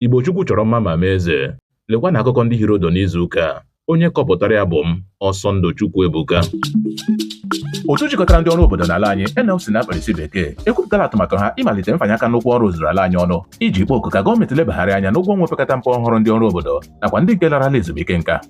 Igbo Chukwu chọrọ mma ma mee eze. Lekwanụ akụkọ ndị hiri ụdụ n'izu ụka a. Onye kọpụtara ya bụ m, Ọsọndụ Chukwuebuka. Otu jikọtara ndị ọrụ obodo n'ala anyị NLC n'aha mkpirisi bekee ekwupụtala atụmatụ ha ịmalite mfanye aka n'ụkwụ ọrụ zuru ala anyị ọnụ iji kpọọ oku ka gọọmenti lebagharị anya n'ụgwọ ọnwa opekata mpe ọhụrụ ndị ọrụ obodo nakwa ndị nke larala ezumike nka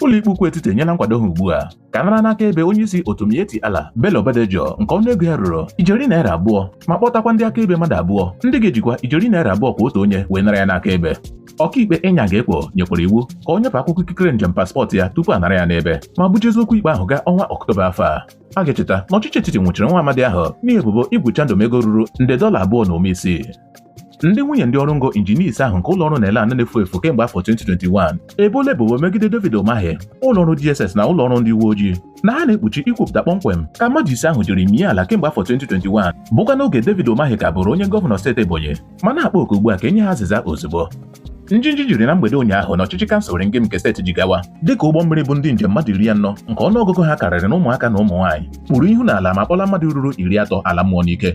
ụlọikpe ukwu etiti enyela nkwado ha ugbu a ka a nara n'akaebe onye isi otu Miyetti Allah Bello Bodejo nke ọnụ ego ya ruru ijeri naira abụọ ma kpọtakwa ndị akaebe mmadụ abụọ ndị ga-ejikwa ijeri naira abụọ kwa otu onye wee nara ya n'akaebe ọkaikpe Inyang Ekwo nyekwara iwu ka o nyepụ akwụkwọ ikikere njem paspọtụ ya tupu a nara ya n'ebe ma bujezi okwu ikpe ahụ gaa ọnwa ọktoba afọ a a ga-echeta na ọchịchị etiti nwụchiri nwa amadi ahụ n'ihi ebubo igwu chandụm ego ruru nde dọla abụọ na ụma isii ndị nwunye ndị ọrụ ngo injinia ise ahụ nke ụlọ ọrụ NELAN na-efu efu kemgbe afọ 2021 eboola ebubo megide David Umahi ụlọ ọrụ DSS na ụlọ ọrụ ndị uwe ojii na ha na-ekpuchi ikwupụta kpọmkwem ka mmadụ ise ahụ jiri mie ala kemgbe afọ 2021 bụkwa n'oge David Umahi ka bụrụ onye gọvanọ steeti Ebonyi ma na-akpọ oku ugbu a ka e nye ha azịza ozugbo njinji jiri na mgbede ụnyaahụ n'ọchịchị kansụl Ringim nke steeti Jigawa dịka ụgbọ mmiri bu ndị njem mmadụ iri anọ nke ọnụọgụgụ ha karịrị n'ụmụaka na ụmụ nwaanyị kpuru ihu n'ala ma kpọla mmadụ ruru iri atọ ala mmụọ n'ike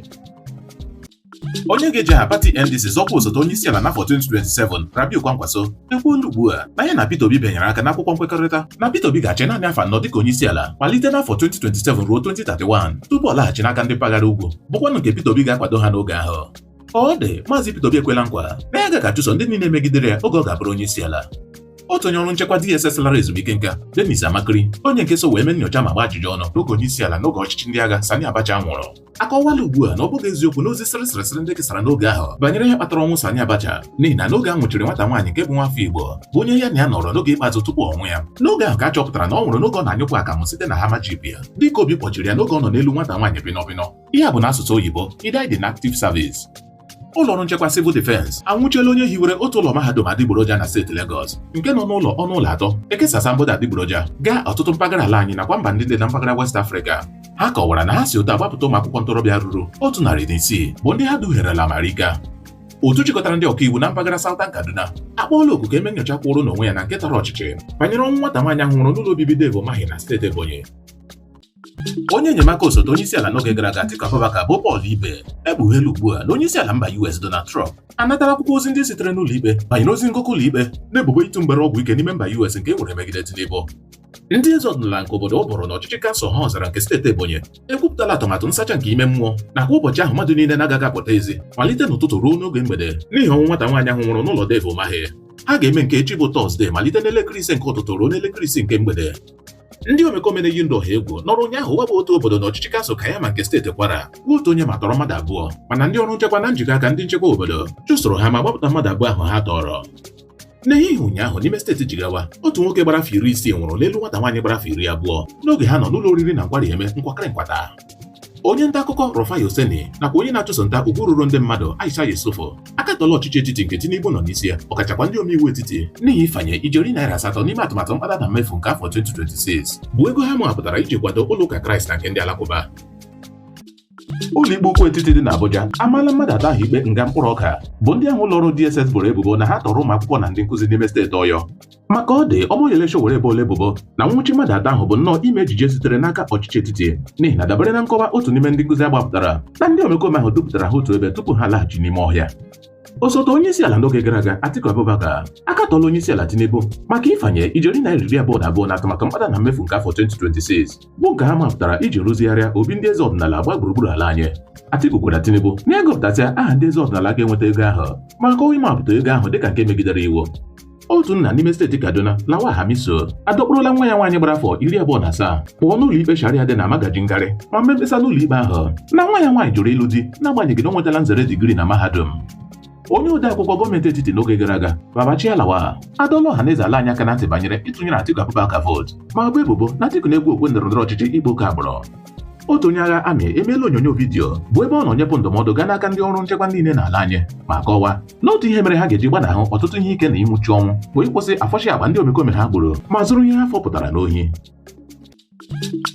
onye ga-eji aha pati NDC zọọ ọkwa osote onye isi ala n'afọ 2027 Rabiu Kwankwaso ekwuola ugbu a na ya na Peter Obi bịanyere aka n'akwụkwọ nkwekọrịta na Peter Obi ga-achị naanị afọ anọ dịka onye isi ala malite n'afọ 2027 ruo 2031 tupu ọ laghachi n'aka ndị mpaghara ugwu bụkwanụ nke Peter Obi ga-akwado ha n'oge ahụ ka ọ dị maazị Peter Obi ekwela nkwa na ya agaghị achụso ndị niile megidere ya oge ọ ga-abụrụ onye isi ala otu onye ọrụ nchekwa DSS lara ezumike nka Dennis Amachree onye nke so wee mee nyocha ma gbaa ajụjụ ọnụ n'oge onye isi ala n'oge ọchịchị ndị agha Sani Abacha nwụrụ akọwaala ugbu a na ọ bụghị eziokwu n'ozi sịrị sịrị sịrị ndị kesara n'oge ahụ banyere ihe kpatara ọnwụ Sani Abacha n'ihi na n'oge a nwụchiri nwata nwaanyị nke bụ nwafọ Igbo bụ onye ya na ya nọrọ n'oge ikpeazụ tupu ọnwụ ya n'oge ahụ ka a chọpụtara na ọ nwụrụ n'oge ọ na-anyụpụ akamụ site na Hummer jeep ya dịka obi kpọchiri ya n'oge ọ nọ n'elu nwata nwaanyị bịnọbịnọ ihe a bụ n'asụsụ oyibo he died in active service ụlọọrụ nchekwa civil defense anwụchiela onye hiwere otu ụlọ mahadum adịgboroja na steeti Lagos nke nọ n'ụlọ ọnụ ụlọ atọ ekesa asambodo adịgboroja gaa ọtụtụ mpaghara ala anyị nakwa mba ndị dị na mpaghara West Africa ha kọwara na ha si otu a gbapụta ụmụ akwụkwọ ntorobịa ruru otu narị na isii bụ ndị ha duherela marika otu jikọtara ndị ọkaiwu na mpaghara Southern Kaduna akpọọla oku ka e mee nyocha kwụụrụ n'onwe ya na nke tara ọchịchị banyere ọnwụ nwata nwaanyị ahụ nwụrụ n'ụlọ obibi Dave Umahi na steeti Ebonyi onye enyemaka osote onyeisiala n'oge gara aga Atiku Abubakar bụ Paul Ibe ekpugheela ugbu a na onyeisiala mba US Donald Trump anatala akwụkwọ ozi ndị sitere n'ụlọ ikpe banyere ozi ngụkọ ụlọ ikpe n'ebubo ịtụ mgbere ọgwụ ike n'ime mba US nke e nwere megide Tinubu ndị eze ọdịnala nke obodo Uburu n'ọchịchị kansụl Ohaozara nke steeti Ebonyi ekwupụtala atụmatụ nsacha nke ime mmụọ nakwa ụbọchị ahụ mmadụ niile na-agaghị apụta ezi malite n'ụtụtụ ruo n'oge mgbede n'ihi ọnwụ nwata nwaanyị ahụ nwụrụ n'ụlọ Dave Umahi ha ga-eme nke echi bụ Tọzdee malite n'elekere ise nke ụtụtụ ruo n'elekere ise nke mgbede ndị omekome na-eyi ndụ ọha egwu nọrọ ụnyaahụ waba otu obodo na ọchịchị kansụl Kaiama nke steeti Kwara gbuo otu onye ma tọrọ mmadụ abụọ mana ndị ọrụ nchekwa na njikọ aka ndị nchekwa obodo chụsoro ha ma gbapụta mmadụ abụọ ahụ ha tọrọ n'ehihie ụnyaahụ n'ime steeti Jigawa otu nwoke gbara afọ iri isii nwụrụ n'elu nwata nwaanyị gbara afọ iri abụọ n'oge ha nọ n'ụlọ oriri na nkwari eme nkwakịrị nkwata onye nta akụkọ Rufai Oseni nakwa onye na-achụso nta ugwu ruru ndị mmadụ Aisha Yesufu akatọla ọchịchị etiti nke Tinubu nọ n'isi ya ọkachakwa ndị omeiwu etiti n'ihi ịfanye ijeri naira asatọ n'ime atụmatụ mkpata na mmefu nke afọ 2026 bụ ego ha mụhapụtara iji kwado ụlọ ụka Kraịst na nke ndị Alakụba ụlọikpe ukwu etiti dị n'Abuja amaala mmadụ atọ ahụ ikpe nga mkpụrụ ọka bụ ndị ahụ ụlọọrụ DSS boro ebubo na ha tọrọ ụmụ akwụkwọ na ndị nkụzi n'ime steeti Ọyọ maka ọ dị Omoyele Sowore eboola ebubo na nwụchi mmadụ atọ ahụ bụ nnọọ ime ejije sitere n'aka ọchịchị etiti n'ihi na dabere na nkọwa otu n'ime ndị nkụzi a gbapụtara na ndị omekome ahụ dupụtara ha otu ebe tupu ha laghachi n'ime ọhịa osote onye isi ala n'oge gara aga Atiku Abubakar akatọla onye isi ala Tinubu maka ịfanye ijeri naira iri abụọ na abụọ na atụmatụ mkpata na mmefu nke afọ 2026 bụ nke ha mapụtara iji rụzigharịa obi ndị eze ọdịnala gba gburugburu ala anyị Atiku gwara Tinubu ya gụpụtasịa aha ndị eze ọdịnala ga-enweta ego ahụ ma kọwaa ịmapụta ego ahụ dịka nke megidere iwu otu nna n'ime steeti Kaduna Lawal Hamisu adọkpụrụla nwa ya nwaanyị gbara afọ iri abụọ na asaa pụọ n'ụlọ ikpe Sharia dị na Magajin Gari ma mee mkpesa n'ụlọ ikpe ahụ na nwa ya nwaanyị jụrụ ịlụ di n'agbanyeghị na o nwetala nzere digiri na mahadum onye ode akwụkwọ gọọmenti etiti n'oge gara aga Babachir Lawal adọla ọha na eze ala anyị aka na ntị banyere ịtụnyere Atiku Abubakar vootu ma bo ebubo na Atiku na-egwu okwe ndọrọ ndọrọ ọchịchị ịkpa oke agbụrụ otu onye agha amị emeela onyonyo vidiyo bụ ebe ọ nọ nyepụ ndụmọdụ gaa n'aka ndị ọrụ nchekwa niile n'ala anyị ma kọwaa na otu ihe mere ha ga-eji gbanahụ ọtụtụ ihe ike na ịnwụchu ọnwụ bụ ịkwụsị ịfọcha akpa ndị omekome ha gburu ma zuru ihe ha fọpụtara n'ohi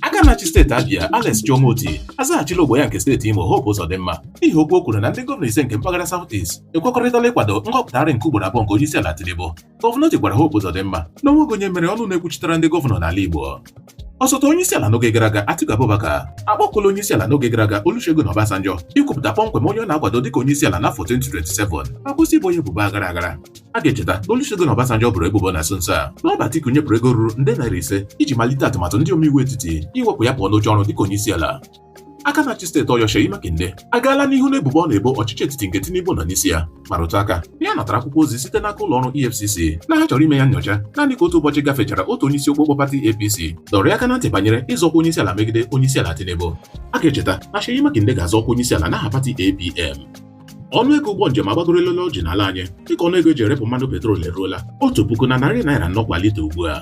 aka na-achị steeti Abia Alex Chioma Otti azaghachila ogbo ya nke steeti Imo Hope Uzodimma n'ihi okwu o kwuru na ndị gọvanọ ise nke mpaghara South East ekwekọrịtala ịkwado nhọpụtagharị nke ugboro abụọ nke onyeisiala Tinubu Gọvanọ Otti gwara Hope Uzodimma na o nweghị onye mere ọnụ na-ekwuchitere ndị gọvanọ n'ala Igbo osote onye isi ala n'oge gara aga Atiku Abubakar akpọkuola onye isi ala n'oge gara aga Olusegun Obasanjo ikwupụta kpọmkwem onye ọ na-akwado dịka onye isi ala n'afọ 2027 ma kwụsị ibo ya ebubo aghara aghara a ga-echeta na Olusegun Obasanjo boro ebubo na nso nso a na ọ bụ Atiku nyepụrụ ego ruru nde naira ise iji malite atụmatụ ndị omeiwu etiti iwepụ ya pụọ n'oche ọrụ dịka onye isi ala aka na-achị steeti Ọyọ Seyi Makinde agaala n'ihu n'ebubo ọ na-ebo ọchịchị etiti nke Tinubu nọ n'isi ya ma rụtụ aka na ya natara akwụkwọ ozi site n'aka ụlọ ọrụ EFCC na ha chọrọ ime ya nyocha naanị ka otu ụbọchị gafechara otu onye isi okpokpo pati APC dọrọ ya aka na ntị banyere ịzọ ọkwa onye isi ala megide onye isi ala Tinubu a ga-echeta na Seyi Makinde ga-azọ ọkwa onye isi ala n'aha pati APM ọnụ ego ụgbọ njem agbagoruola elu ọjị n'ala anyị dịka ọnụ ego e ji erepụ mmanụ petrol eruola otu puku na narị naira anọ kwa lita ugbu a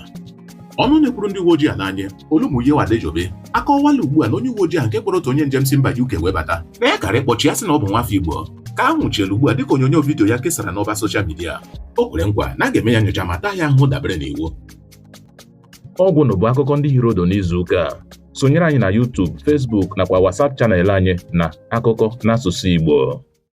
ọnụ na-ekwuru ndị uwe ojii ala anyị Olumuyiwa Adejobi akọwala ugbu a na onye uwe ojii ahụ nke kpọrọ otu onye njem si mba UK wee bata na ya kaara ịkpọchi ya sị na ọ bụ nwafọ Igbo ka a nwụchiela ugbu a dịka onyonyo vidiyo ya kesara n'ọba soshal midia o kwere nkwa na a ga-eme ya nyocha ma taa ya ahụhụ dabere n'iwu ọ gwụla bụ akụkọ ndị hiri ụdụ n'izu ụka a sonyere anyị na YouTube, Facebook nakwa WhatsApp channel anyị na akụkọ n'asụsụ Igbo